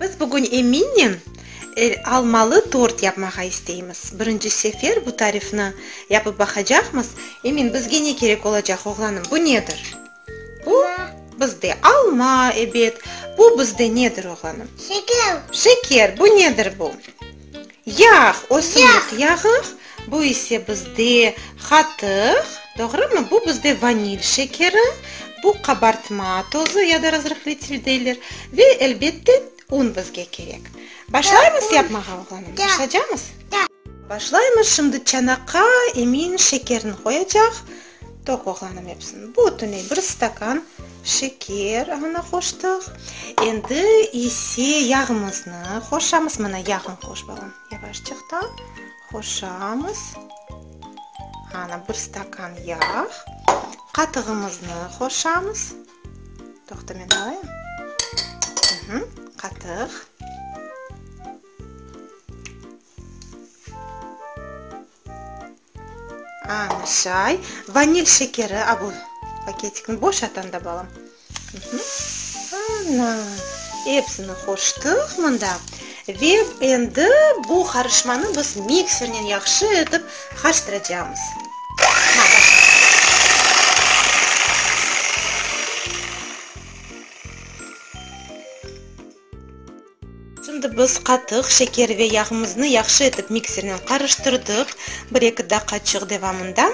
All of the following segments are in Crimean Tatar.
Biz bugün eminim el almalı tort yapmağa isteymiz. Birinci sefer bu tarifni yapıp baqacaqmız. Emin, bizge ne kerek olacaq, oğlanım? Bu nedir? Bu bizde alma, ebet. Bu bizde nedir, oğlanım? Şeker. Şeker. Bu nedir bu? Yağ, ösümlik yağı, bu ise bizde qatıq, doğrumı? Bu bizde vanil şekeri, bu qabartma tozu ya da razrıhletil deyler ve, elbette, un bizge kerek. Başlaymız yapmağa, oğlanım, başlacamız? Başlaymız, şimdi çanaqqa emin şekerini qoyacaq. Toparlanım epsini. Bütüney bir stakan şeker añına qoştıq. Endi ise yağımıznı qoşamız. Mına yağın qoş, balam. Yavaşçaqtan qoşamız. Ana, bir stakan yağ. Qatığımıznı qoşamız. Toqta, men alayım. Qatıq. Çay, vanil şekeri, a, bu paketikni boşat anda, balam. Ana, epsini qoştıq mında. Ve endi bu qarışmanı biz miksernen yahşı etip qarıştıracağımız. Şimdi biz qatıq, şeker ve yağımıznı yahşı etip miksernen qarıştırdıq, bir-eki daqaçıq devamında.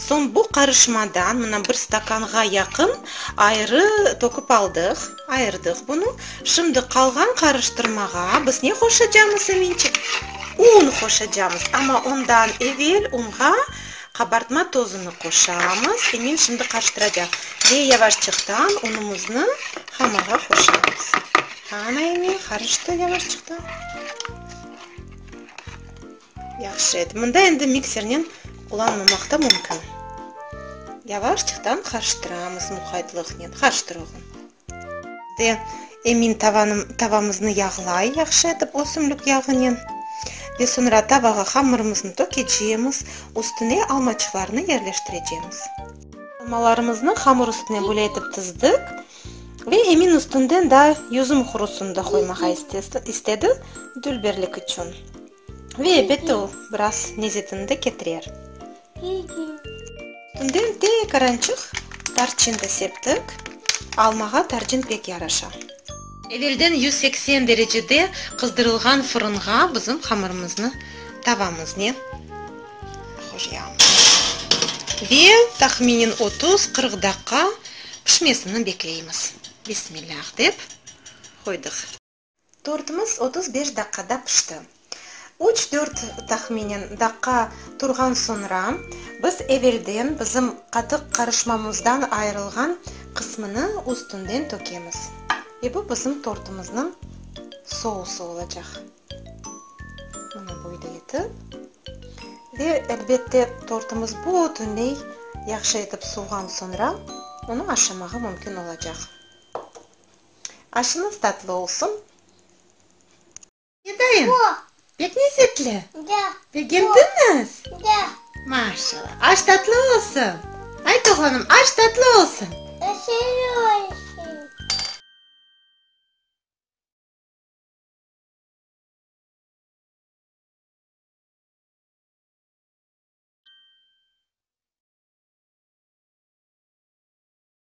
Soñ bu qarışmadan, mına bir stakanğa yaqın ayırı töküp aldıq, ayırdıq bunı. Şimdi qalğan qarıştırmağa biz ne qoşacamız, Eminçik? Un qoşacamız, amma ondan evel unğa Qabartma tozunı qoşamız ve men şimdi qarıştıracaq ve yavaşçıqtan unumıznı hamırğa qoşamız. Ana endi qarıştı yavaşçıqtan. Yahşı edi. Mında endi miksernen qullanmamaq ta mümkün. Yavaşçıqtan qarıştıramız muqaytlıqnen. Qarıştır, oğlum. De, emin, tavanım, tavamıznı yağlay yahşı etip ösümlik yağınen. Ve soñra tavağa hamırımıznı tökecemiz, üstüne almaçıqlarnı yerleştirecemiz. Almalarımıznı hamır üstüne böyle etip tizdik. Ve emin üstünden daa yüzüm hurusını da qoymağa istedi, dülberlik içün. Ve ebette o, biraz nezetini de ketirer. Tünden tek arançıq tarçın da septik. Almağa tarçın pek yaraşa. Evelden yüz seksen derecede qızdırılğan fırınğa bizim hamırımıznı tavamız, ne? Qoyamız. Ve tahminen otuz, qırq daqqa pişmesini bekleymiz. Bismillah dep qoydıq. Tortimiz otuz beş daqqada pişti. Üç-dört, tahminen, daqqa turğan soñra, biz evelden bizim qatıq qarışmamızdan ayırılğan qısmını üstünden tökemiz. Ve bu bizim tortımıznıñ sousı olacaq. Mına böyle etip. Ve, elbette, tortımız bütünley yahşı etip suvğan soñra, onı aşamağa mümkün olacaq. Aşıñız tatlı olsun. Edayım, pek lezzetli. Begendiñiz? Maşallah. Aş tatlı olsun. Ayt, oğlanım, aş tatlı olsun.